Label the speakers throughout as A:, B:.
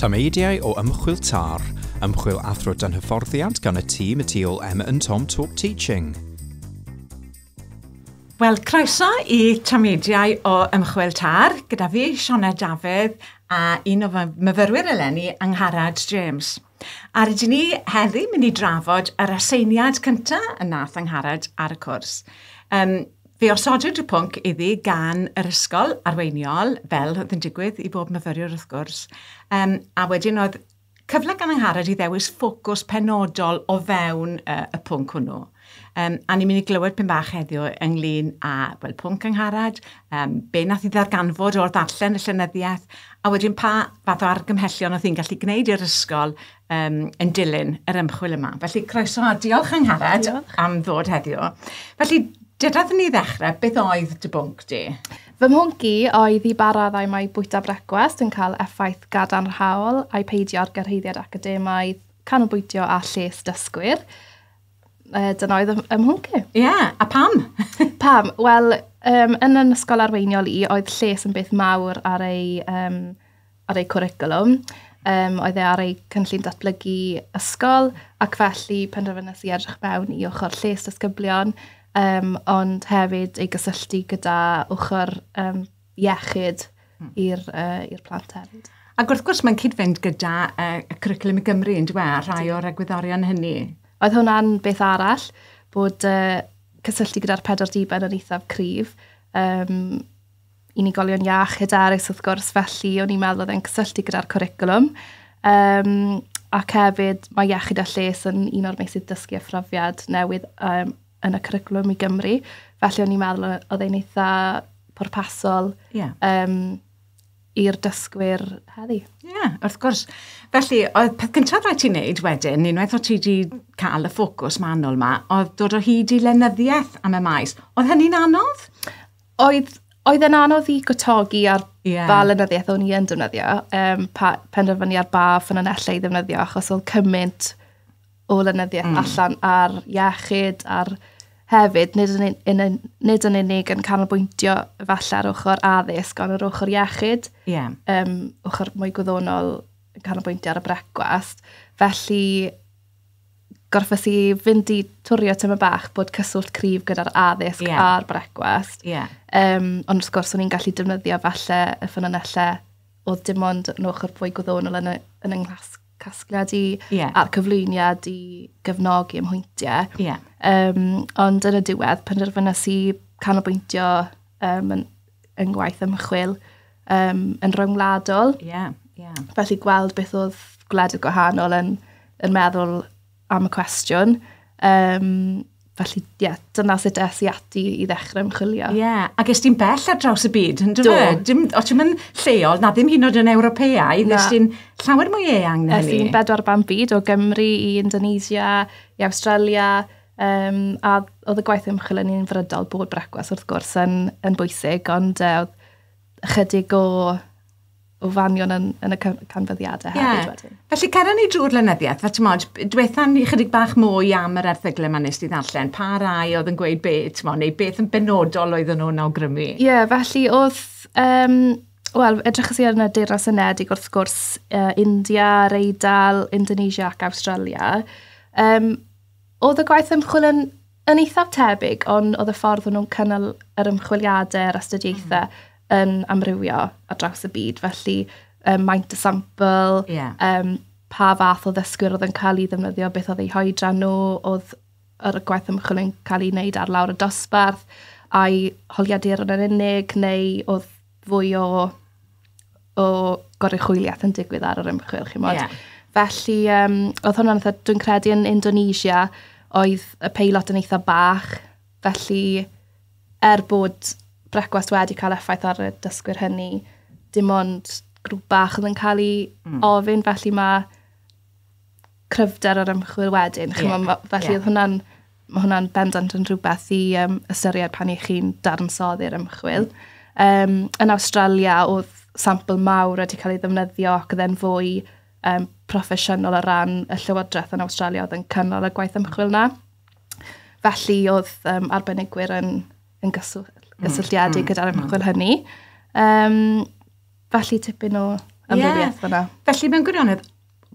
A: Tameidiau o ymchwil TAR, ymchwil athro dan hyfforddiant gan y tîm y tu ôl Emma and Tom Talk Teaching.
B: Wel, croeso i Tameidiau o Ymchwil Tar, gyda fi, Siona Dafydd, a un o fy myfyrwyr eleni, Angharad James. A rydyn ni heddi mynd i drafod yr aseiniad cynta y nath Angharad ar y cwrs. Um, fe osodwyd y pwnc iddi gan yr ysgol arweiniol, fel oedd yn digwydd i bob myfyriwr wrth gwrs, um, a wedyn oedd cyfle gan Angharad i ddewis ffocws penodol o fewn uh, y pwnc hwnnw. Um, a ni'n mynd i glywed pyn bach heddiw ynglyn â well, pwnc angharad, um, be nath i ddarganfod o'r ddarllen y llenyddiaeth, a wedyn pa fath o argymhellion oedd hi'n gallu gwneud i'r ysgol um, yn dilyn yr ymchwil yma. Felly croeso a diolch angharad diolch. am ddod heddiw. Felly Dedaf ni ddechrau, beth oedd dy bwnc di? Fy mhwnc i
C: oedd i ba raddau mae bwyta brecwast yn cael effaith gadarnhaol a'i peidio ar gyrhaeddiad academaidd, canolbwyntio a lles dysgwyr. uh, dyna oedd ym mhwnc i. Ie, yeah, a pam?
B: pam? Wel,
C: um, yn yn ysgol arweiniol i, oedd lles yn beth mawr ar ei, um, ar ei cwricwlwm. Um, oedd e ar ei cynllun datblygu ysgol, ac felly penderfynus i edrych mewn i ochr lles dysgyblion, um, ond hefyd ei gysylltu gyda ochr um, iechyd i'r uh, plant hefyd. Ac wrth gwrs mae'n
B: cyd-fynd gyda uh, y cwricwlwm i Gymru yn dweud, a rhai o'r egwyddorion hynny. Oedd hwnna'n
C: beth arall, bod uh, cysylltu gyda'r pedwar diben yn eithaf cryf. Um, unigolion iach, hyderus wrth gwrs, felly o'n i'n meddwl oedd e'n cysylltu gyda'r cwricwlwm. Um, ac hefyd, mae iechyd a lles yn un o'r meysydd dysgu a phrofiad newydd um, yn y cwricwlwm i Gymru. Felly o'n i'n meddwl oedd e'n eitha pwrpasol yeah. um, i'r dysgwyr heddi. Ie, yeah, wrth gwrs.
B: Felly, oedd peth cyntaf rhaid ti'n neud wedyn, unwaith o ti wedi cael y ffocws manwl yma, oedd dod o hyd i lenyddiaeth am y maes. Oedd hynny'n anodd? Oedd,
C: oedd yn anodd i gwtogi ar yeah. ba lenyddiaeth o'n i yn defnyddio, um, pa, penderfynu ar ba ffynonellau i ddefnyddio, achos oedd cymaint o lenyddiaeth mm. allan ar iechyd, ar hefyd, nid yn, yn, yn, nid yn unig yn canolbwyntio falle ar ochr addysg, ond ar ochr iechyd, yeah. um, ochr mwy gwyddonol yn canolbwyntio ar y brecwast. Felly, gorffes i fynd i twrio tyma bach bod cyswllt cryf gyda'r addysg yeah. a'r brecwast. Yeah. Um, ond wrth gwrs, o'n i'n gallu defnyddio falle y ffynonellau oedd dim ond yn ochr fwy gwyddonol yn, y, yn yng nghlasg casgliad i yeah. a'r cyflwyniad i gefnogi ym hwyntiau. Yeah. Um, ond yn y diwedd, penderfynas i canolbwyntio um, yn, yn gwaith ymchwil um, yn rhyngwladol. Yeah, yeah. Felly gweld beth oedd gwledydd gwahanol yn, yn meddwl am y cwestiwn. Um, felly, ie, yeah, dyna sut es i ati i ddechrau ymchwilio. Ie, yeah. ac ys ti'n bell
B: ar draws y byd, yn dweud? e? Dim, o ti'n mynd lleol, na ddim hyn oed yn Ewropeau, nes ti'n llawer mwy eang na hynny. Es i'n bedwar ban byd, o
C: Gymru i Indonesia, i Australia, Um, a oedd y gwaith ymchwil yn un frydol bod brecwas wrth gwrs yn, yn bwysig, ond uh, ychydig o o fanion yn, yn y canfyddiadau hefyd yeah. wedyn. Felly, cer ni drwy'r
B: lenyddiaeth, fe tymod, diwetha ni chydig bach mwy am yr erthyglau yma nes di ddarllen, pa rai oedd yn gweud be, tymod, neu beth yn benodol oedden nhw'n awgrymu? Ie, yeah, felly oedd,
C: um, wel, edrych i arno Deyrnas Unedig wrth gwrs, uh, India, Reidal, Indonesia ac Australia. Um, oedd y gwaith ymchwil yn Yn eithaf tebyg, ond oedd y ffordd o'n nhw'n cynnal yr ymchwiliadau a'r astudiaethau mm. yn amrywio ar draws y byd. Felly, um, maint y sampl, yeah. um, pa fath o ddysgwyr oedd yn cael ei ddefnyddio, beth oedd eu hoedran nhw, oedd yr gwaith ymchwil yn cael ei wneud ar lawr y dosbarth, a'i holiadur yn unig, neu oedd fwy o, o goruchwyliaeth yn digwydd ar yr ymchwil, chi'n modd. Yeah. Felly, um, oedd hwnna'n eitha, dwi'n credu yn Indonesia, oedd y peilot yn eitha bach, felly er bod brecwast wedi cael effaith ar y dysgwyr hynny, dim ond grŵp bach oedd yn cael ei mm. ofyn, felly mae cryfder yr ymchwil wedyn. Ie. Ch'mo' ma'... Felly... Ie. ...odd hwnna'n ma' hwnna'n bendant yn rhywbeth i yym ystyried pan 'ych chi'n dadansoddi'r ymchwil. Yym yn Awstralia odd sampl mawr wedi ca'l ei ddefnyddio ac odd e'n fwy yym proffesiynol o ran y llywodreth yn Awstralia odd yn cynnal y gwaith ymchwil 'na. Felly odd yym arbenigwyr yn yn gyswllt... Hmm hmm. ...gysylltiedig gyda'r ymchwil hynny. Yym. Felly tipyn o amrywiaeth yeah. fyna. Felly mewn gwirionedd,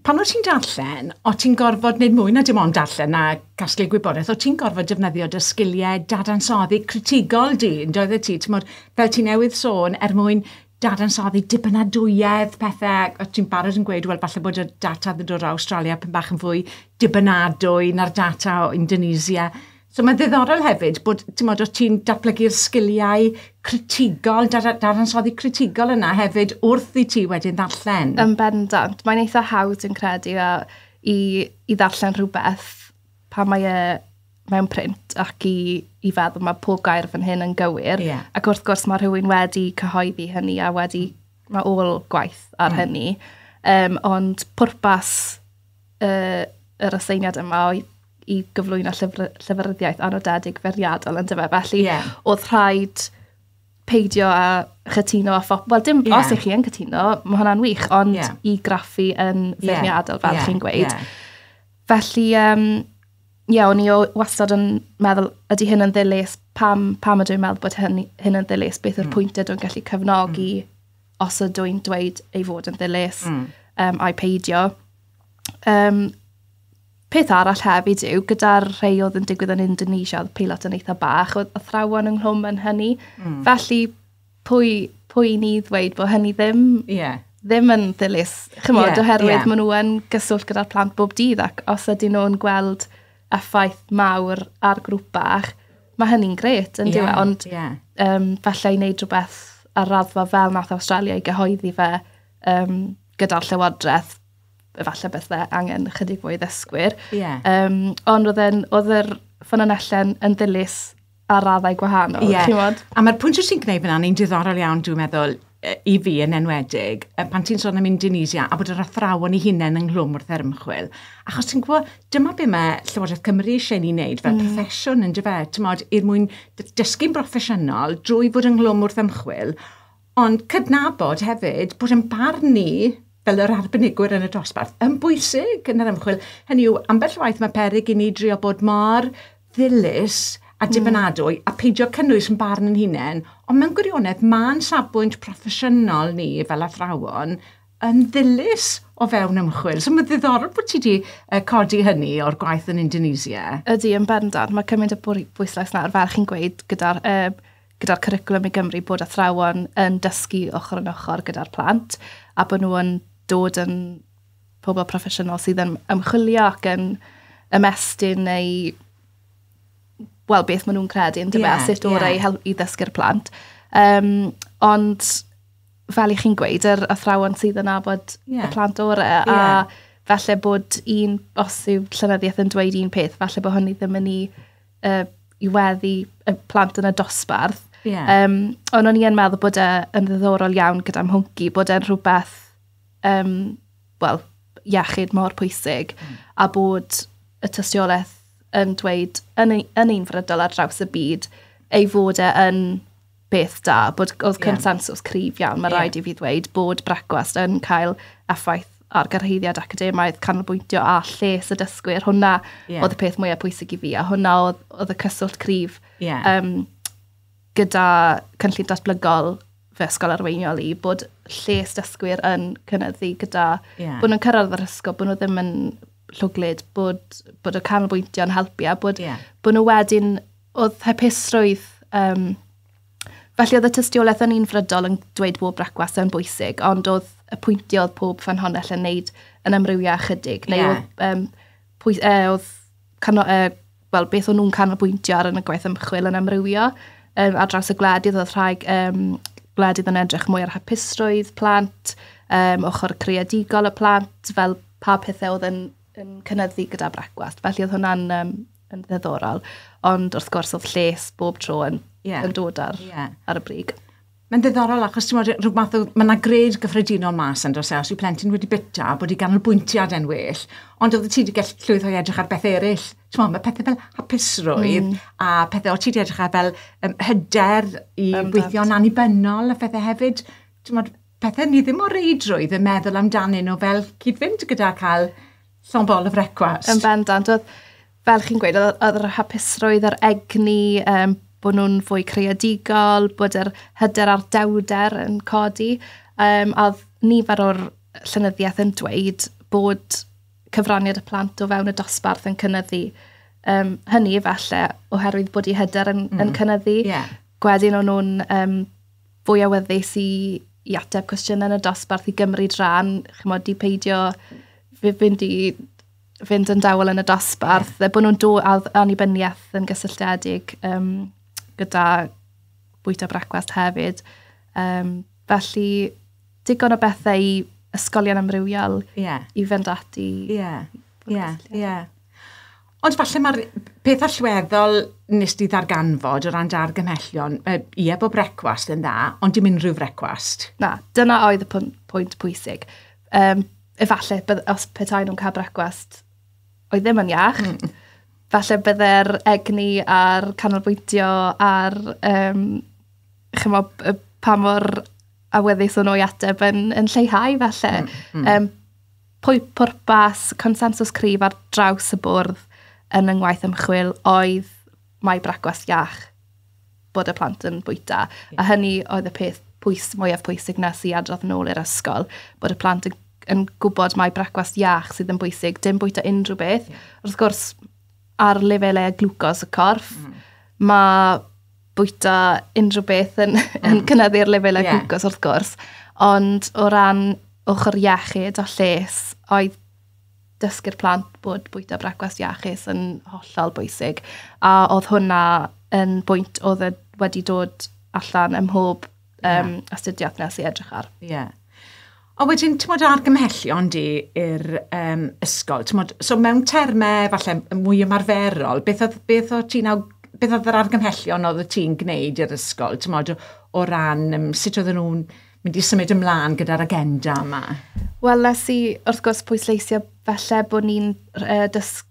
B: pan o't ti'n darllen, o ti'n gorfod wneud mwy na dim ond darllen a casglu gwybodaeth, o ti'n gorfod defnyddio dy sgiliau dadansoddi critigol di, yn doedd e ti, tymod, fel ti newydd sôn, er mwyn dadansoddi dibynadwyedd, pethau, o ti'n barod yn gweud, wel, falle bod y data yn dod o Australia pen bach yn fwy dibynadwy na'r data o Indonesia. So mae'n ddiddorol hefyd bod, ti'n modd, os ti'n datblygu'r sgiliau critigol, dadansoddi critigol yna hefyd wrth i ti wedyn ddarllen. Yn bendant.
C: Mae'n eitha hawdd yn credu a i, i ddarllen rhywbeth pa mae e mewn print ac i, i feddwl mae pob gair fan hyn yn gywir. Yeah. Ac wrth gwrs mae
B: rhywun
C: wedi cyhoeddi hynny a wedi, mae ôl gwaith ar mm. hynny. Um, ond pwrpas uh, yr aseiniad yma oedd i gyflwyno llyfr, llyfryddiaeth anodedig feriadol yn dyfa. Felly, yeah. oedd rhaid peidio a chytuno a phop... Wel, dim yeah. os ych chi yn cytuno, mae hwnna'n wych, ond yeah. i graffu yn feirniadol, yeah. fel yeah. chi'n gweud. Yeah. Felly, um, ie, yeah, o'n i wastad yn meddwl, ydy hyn yn ddilys, pam, pam ydw i'n meddwl bod hyn, hyn yn ddilys, beth yw'r mm. pwynt ydw i'n gallu cefnogi mm. os ydw i'n dweud ei fod yn ddilys, mm. um, a'i peidio. Um, Peth arall hefyd yw, gyda'r rhai oedd yn digwydd yn Indonesia, oedd peilot yn eitha bach, oedd athrawon ynghlwm yn hynny. Mm. Felly, pwy, pwy ni ddweud bod hynny ddim, yeah. ddim yn ddilys, chymod, yeah, oherwydd yeah. maen nhw yn gyswllt gyda'r plant bob dydd ac os ydyn nhw'n gweld effaith mawr ar grŵp bach, mae hynny'n gret, yn yeah, diwe, ond yeah. um, falle i wneud rhywbeth ar raddfa fel nath Australia i gyhoeddi fe um, gyda'r llywodraeth, efallai beth dde angen chydig fwy ddysgwyr. Yeah. Um, ond oedd, yn, oedd yr ffynonellen yn ddilys ar raddau gwahanol. Yeah. A mae'r pwynt
B: sy'n gwneud fyna, ni'n diddorol iawn, dwi'n meddwl, i fi yn enwedig, pan ti'n sôn am Indonesia, a bod yr athrawon i hunain yng nghlwm wrth erymchwil. Achos ti'n gwybod, dyma be mae Llywodraeth Cymru eisiau ni wneud fel mm. proffesiwn yn dyfa, ti'n modd, i'r mwyn dysgu'n broffesiynol drwy fod yng nghlwm wrth ymchwil, Ond cydnabod hefyd bod ein barn ni fel yr arbenigwyr yn y dosbarth yn bwysig yn yr ymchwil. Hynny yw, ambell waith mae peryg i ni drio bod mor ddilys a hmm. dibynadwy a peidio cynnwys yn barn yn hunain, ond mewn gwirionedd mae'n safbwynt proffesiynol ni fel athrawon yn ddilys o fewn ymchwil. So mae'n ddiddorol bod ti wedi uh, codi hynny o'r gwaith yn Indonesia. Ydy, yn bendant.
C: Mae cymaint o bwyslais na ar fel chi'n gweud gyda'r uh, gyda'r cwricwlwm i Gymru bod athrawon yn dysgu ochr yn ochr gyda'r plant a bod nhw yn dod yn pobl proffesiynol sydd yn ymchwilio ac yn ymestyn neu wel, beth maen nhw'n credu yn dyma, yeah, sut o'r yeah. ei i ddysgu'r plant. Um, ond, fel i chi'n gweud, yr athrawon sydd yn abod yeah. y plant orau, yeah. a falle bod un, os yw llenyddiaeth yn dweud un peth, falle bod hynny ddim yn ei uh, i weddi y plant yn y dosbarth. Yeah. Um, ond o'n i yn meddwl bod e yn ddiddorol iawn gyda'r mhwnci, bod e'n rhywbeth, um, wel, iechyd mor pwysig, mm. a bod y tystiolaeth yn dweud yn, yn un frydol ar draws y byd ei fod e yn beth da, bod oedd consensus cryf iawn, mae yeah. rhaid i fi ddweud bod brecwast yn cael effaith ar gyrhaeddiad academaidd, canolbwyntio a lles y dysgwyr. Hwna yeah. oedd y peth mwyaf pwysig i fi, a hwna oedd, oedd y cyswllt cryf yeah. um, gyda cynllun datblygol fy ysgol arweiniol i, bod lles dysgwyr yn cynnyddu gyda, yeah. bod nhw'n cyrraedd yr ysgol, bod nhw ddim yn llwglyd, bod, bod y canolbwyntio'n helpu a bod, yeah. bod nhw wedyn oedd hapusrwydd yym felly oedd y tystiolaeth yn unfrydol yn dweud bod brecwast yn bwysig, ond oedd y pwyntiau oedd pob ffynhonnell yn wneud yn amrywio ychydig, neu yeah. oedd, um, pwy, uh, oedd cano, uh, well, beth o'n nhw'n canolbwyntio ar yn y gwaith ymchwil yn amrywio um, ar draws y gwledydd, oedd rhai um, gwledydd yn edrych mwy ar hapusrwydd plant, um, ochr creadigol y plant, fel pa pethau oedd yn, yn cynnyddu gyda brecwast. Felly oedd hwnna'n um, yn ddiddorol. Ond wrth gwrs oedd lles bob tro yn, yeah. yn dod ar, yeah. ar y brig. Mae'n ddiddorol
B: achos ti'n meddwl rhyw math o... Mae yna gred gyffredinol mas yn dos e, os yw plentyn wedi bita, bod i ganolbwyntiad e'n well, ond oedd ti wedi gallu llwydd o'i edrych ar beth eraill. Ti'n meddwl, mae pethau fel hapusrwydd mm. a pethau o ti wedi edrych ar fel um, hyder i um, gweithio'n annibynnol a phethau hefyd. Ti'n meddwl, pethau ni ddim o reidrwydd yn meddwl amdanyn nhw fel cyd-fynd gyda cael Song Ball of Request. Yn bendant. Oedd,
C: fel chi'n gweud, oedd yr hapusrwydd, yr egni, um, bod nhw'n fwy creadigol, bod yr hyder a'r dewder yn codi. Um, a oedd nifer o'r llynyddiaeth yn dweud bod cyfraniad y plant o fewn y dosbarth yn cynnyddu. Um, hynny efallai oherwydd bod i hyder yn, mm. yn cynyddu. Yeah. Gwedyn o'n nhw'n um, fwy awyddus i i ateb cwestiynau yn y dosbarth, i gymryd rhan, chimod, i peidio fy- fynd i fynd yn dawel yn y dosbarth. A bod nhw'n dod â annibyniaeth yn gysylltiedig yym gyda bwyta brecwast hefyd. Yym, felly, digon o bethau i ysgolion amrywiol... Ie. ...i fynd ati... Ie, ie, ie.
B: Ond falle mae'r peth allweddol nes di ddarganfod o ran dy argymhellion, yy, ie, bod brecwast yn dda, ond dim unrhyw frecwast. Na, dyna oedd
C: y pwynt, pwynt pwysig. Um, efallai, bydd, os petai nhw'n cael brecwast oedd ddim yn iach, mm. falle byddai'r egni a'r canolbwyntio a'r, um, chymo, pa mor awyddus o'n o'i ateb yn, yn lleihau falle. Mm, mm. Um, Pwy pwrpas consensws cryf ar draws y bwrdd yn yng ngwaith ymchwil oedd mai bragwast iach bod y plant yn bwyta. A hynny oedd y peth pwys, mwyaf pwysig na sy'n adrodd yn ôl i'r ysgol, bod y plant yn, yn gwybod mae brecwast iach sydd yn bwysig, dim bwyta unrhyw beth. Wrth gwrs, ar lefelau glwcos y corff, mm. mae bwyta unrhyw beth yn, mm. yn cynyddu'r lefelau yeah. gwcos wrth gwrs. Ond o ran ochr iechyd a lles, oedd dysgu'r plant bod bwyta brecwast iachus yn hollol bwysig. A oedd hwnna yn bwynt oedd e wedi dod allan ym mhob um, yeah. astudiaeth nes i edrych ar. Ie. Yeah. Ond
B: wedyn, ti'n modd argymhellion di i'r um, ysgol? Mod, so mewn termau falle mwy ymarferol, beth oedd, beth oedd ti'n beth oedd yr argymhellion oedd ti'n gwneud i'r ysgol? Ti'n modd o ran um, sut oedden nhw'n mynd i symud ymlaen gyda'r agenda yma? Wel, nes i
C: wrth gwrs pwysleisio falle bod ni'n uh, dysgu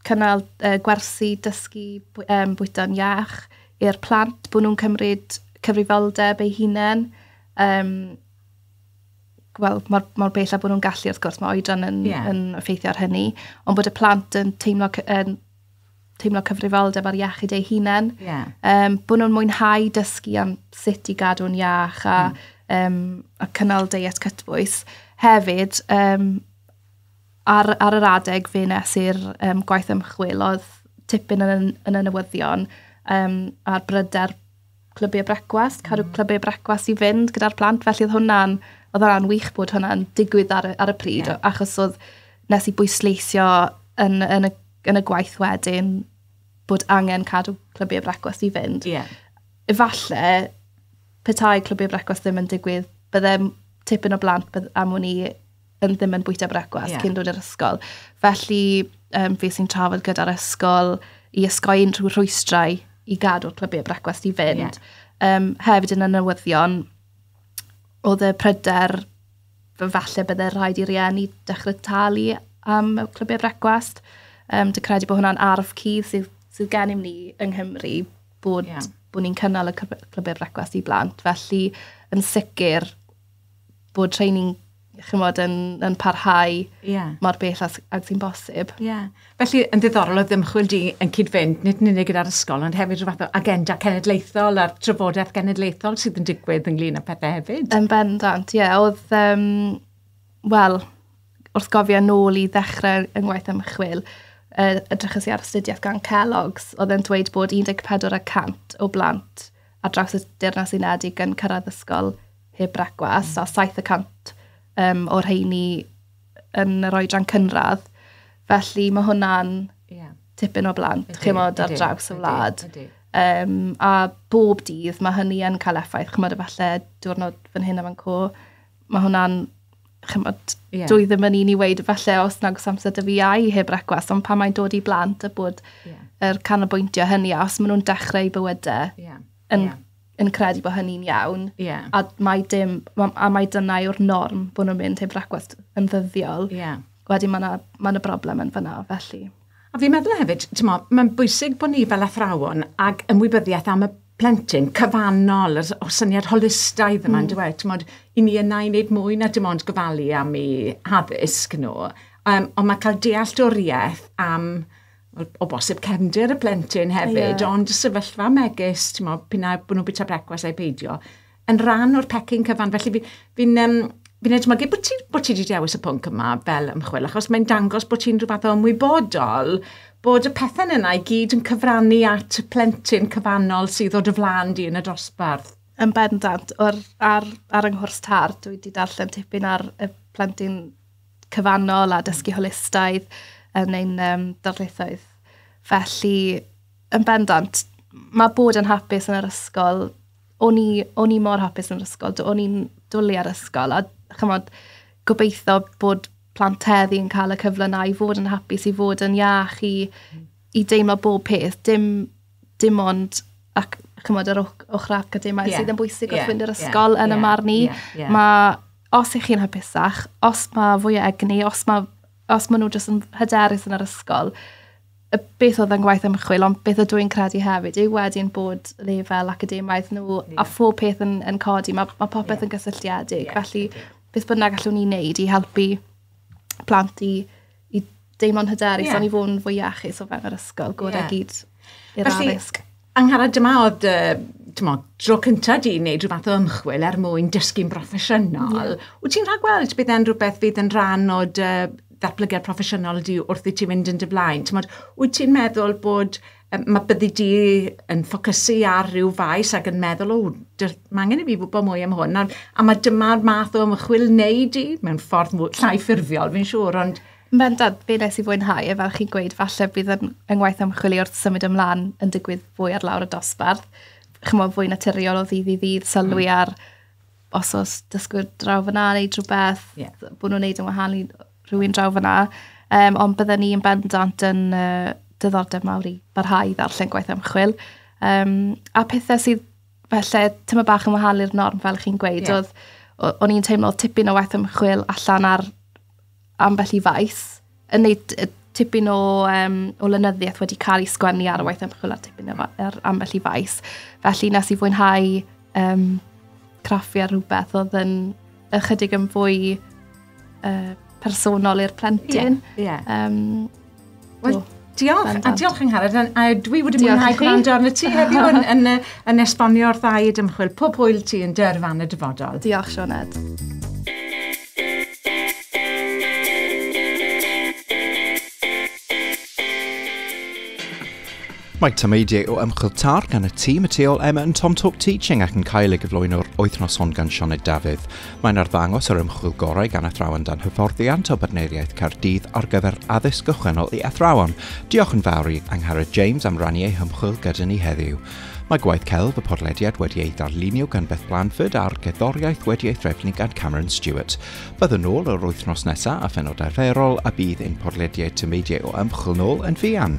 C: cynnal uh, gwersi dysgu um, bwyta'n iach i'r plant, bod nhw'n cymryd cyfrifoldeb eu hunain. Um, wel, mor, mor bell a bod nhw'n gallu, wrth gwrs, mae oedran yn, yeah. yn effeithio ar hynny, ond bod y plant yn teimlo, yn teimlo cyfrifoldeb ar iechyd eu hunain. Yeah. Um, bod nhw'n mwynhau dysgu am sut i gadw'n iach a, mm. um, a cynnal deiet cytbwys. Hefyd, um, Ar, ar yr adeg fe nes i'r um, gwaith ymchwil, oedd tipyn yn, yn y newyddion um, a'r bryder clybiau brecwast, cadw mm. clybiau brecwast i fynd gyda'r plant, felly oedd hwnna'n, oedd hwnna'n wych bod hwnna'n digwydd ar, ar y pryd, yeah. achos oedd nes i bwysleisio yn, yn, y, yn y gwaith wedyn bod angen cadw clybiau brecwast i fynd. Yeah. Efallai, petai clybiau brecwast ddim yn digwydd, byddem tipyn o blant am wn i yn ddim yn bwyta brecwast yeah. cyn dod i'r ysgol. Felly, um, fi sy'n trafod gyda'r ysgol i ysgoi unrhyw rhwystrau i gadw'r clybiau brecwast i fynd. Yeah. Um, hefyd yn y newyddion, oedd y pryder falle bydde rhaid i rieni dechrau talu am clybiau brecwast. Um, Dwi'n credu bod hwnna'n arf cudd sydd, sydd gen i ni yng Nghymru bod, yeah. bod ni'n cynnal y clybiau brecwast i blant. Felly, yn sicr, bod training chymod, yn, yn parhau yeah. mor bell ag, ag sy'n bosib. Yeah. Felly, yn
B: ddiddorol oedd ymchwil di yn cyd-fynd, nid yn unig gyda'r ysgol, ond hefyd rhywbeth o agenda cenedlaethol a'r trafodaeth genedlaethol sydd yn digwydd ynglyn â pethau hefyd. Yn bendant, ie.
C: Yeah, oedd, um, wel, wrth gofio nôl i ddechrau yng ngwaith ymchwil, uh, edrychus i ar astudiaeth gan Kellogg's, oedd e'n dweud bod 14 y 100 o blant ar draws y Deyrnas Unedig yn cyrraedd ysgol heb brecwast, a 700 um, o'r rheini yn yr oedran cynradd. Felly mae hwnna'n yeah. tipyn o blant, ydy, chymod, ar draws y wlad. Ydy, ydy. Um, a bob dydd mae hynny yn cael effaith, chymod, efallai diwrnod fan hyn a fan co. Mae hwnna'n chymod, yeah. dwi ddim yn un i weid falle os nag os amser dy fi ai heb brecwast, ond pan mae'n dod i blant a bod yeah. er canolbwyntio hynny, a os maen nhw'n dechrau bywydau yeah. yn, yeah. yn credu bod hynny'n iawn, yeah. a, mae dim, a mae dyna yw'r norm bod nhw'n mynd heb brecwast yn ddyddiol, yeah. wedyn mae yna ma broblem yn fyna, felly. A fi'n meddwl hefyd,
B: t'mo', mae'n bwysig bod ni fel athrawon ag ymwybyddiaeth am y plentyn cyfannol, yr o syniad holistaidd yma yndyw e? T'mod, 'yn ni yna i wneud mwy na dim ond gofalu am 'u haddysg nhw, yym ond ma' cael dealltwriaeth am o o bosib cefndir y plentyn hefyd... Ie. ...ond y sefyllfa megis, t'mo', p'un ai bo' nhw'n bwyta brecwast ai peidio, yn rhan o'r pecyn cyfan. Felly fi, fi'n um, fi'n edmygu bod ti, bod ti wedi dewis y pwnc yma fel ymchwil, achos mae'n dangos bod ti'n rhywbeth o ymwybodol bod y pethau yna i gyd yn cyfrannu at y plentyn cyfannol sydd o dy flan di yn y dosbarth. Yn bendant,
C: ar, ar, ar yng nghwrs tar, dwi wedi darllen tipyn ar y plentyn cyfannol a dysgu holistaidd yn ein um, darlithoedd. Felly, yn bendant, mae bod yn hapus yn yr ysgol o'n i, o'n i mor hapus yn yr ysgol. Do- o'n i'n dwli ar ysgol a chymod, gobeithio bod plant heddi yn cael y cyfle na i fod yn hapus, i fod yn iach, i, i deimlo bob peth. Dim, dim ond ac chymod yr och- ochr academau yeah. sydd yn bwysig yeah. wrth fynd i'r ysgol yeah. yn yeah. y marn i. Yeah. Yeah. Mae, os ych chi'n hapusach, os mae fwy o egni, os mae os maen nhw jyst yn hyderus yn yr ysgol, y beth oedd yn gwaith ymchwil, ond beth ydw i'n credu hefyd yw wedyn bod lefel academaidd nhw yeah. a phob peth yn, yn codi. Mae ma popeth yeah. yn gysylltiedig, yeah. felly beth bynnag allwn ni'n neud i helpu plant i, i deimlo'n hyderus, yeah. ond i fod yn fwy iachus o fewn yr ysgol, gwrdd yeah. gyd i'r addysg. Angharad, dyma oedd
B: uh, mo, dro cyntaf di wneud rhywbeth o ymchwil er mwyn dysgu'n broffesiynol. Yeah. Wyt ti'n rhaid gweld bydd e'n rhywbeth fydd yn rhan o dy ddatblygiad proffesiynol di wrth i ti fynd yn dy flaen? Tymod, wyt ti'n meddwl bod mae byddi di yn ffocysu ar ryw faes ac yn meddwl, o, mae angen i fi wybod mwy am hwn. A, a mae dyma'r math o ymchwil wneud i, mewn ffordd llai ffurfiol, fi'n siŵr, ond Yn bendant, be nes i
C: fwynhau, e fel chi'n gweud, falle bydd yn yngwaith ymchwili wrth symud ymlaen yn digwydd fwy ar lawr y dosbarth. Chymo, fwy naturiol o ddydd i ddydd, sylwi mm. ar os oes dysgwyr draw fyna neu drwbeth, yeah. bod nhw'n neud yn wahanol i rhywun draw fyna. Um, ond byddwn ni yn bendant yn uh, dyddordeb mawr i barhau ddarllen gwaith ymchwil. Um, a pethau sydd felly tyma bach yn wahanol i'r norm, fel chi'n gweud, yeah. oedd o'n i'n teimlo tipyn o waith ymchwil allan ar ambell i faes, yn neud y tipyn o, um, o lenyddiaeth wedi cael ei sgwennu ar y waith ymchwil ar tipyn o, ar ambell i faes. Felly nes i fwynhau um, craffu ar rhywbeth oedd yn ychydig yn fwy uh, personol i'r plentyn. Yeah, yeah. Um,
B: Wel, diolch, a diolch yng Ngharad, a dwi wedi mwynhau gwrando arno ti heddiw yn, yn, yn esbonio'r ddau dymchwil, pob hwyl ti yn dy yrfan y dyfodol. Diolch, Sioned.
A: Mae tameidiau o ymchwil tar gan y tîm y tu ôl Emma yn Tom Talk Teaching ac yn cael ei gyflwyno'r wythnos hon gan Sioned Dafydd. Mae'n arddangos yr ymchwil gorau gan athrawon dan hyfforddiant o Bartneiriaeth Caerdydd ar gyfer addysg gychwynnol i athrawon. Diolch yn fawr i Angharad James am rannu ei hymchwil gyda ni heddiw. Mae gwaith celf y podlediad wedi ei ddarlunio gan Beth Blanford a'r gerddoriaeth wedi ei threfnu gan Cameron Stewart. Byddwn nôl yr wythnos nesaf a phenod arferol a bydd ein podlediad tameidiau o ymchwil nôl yn fuan.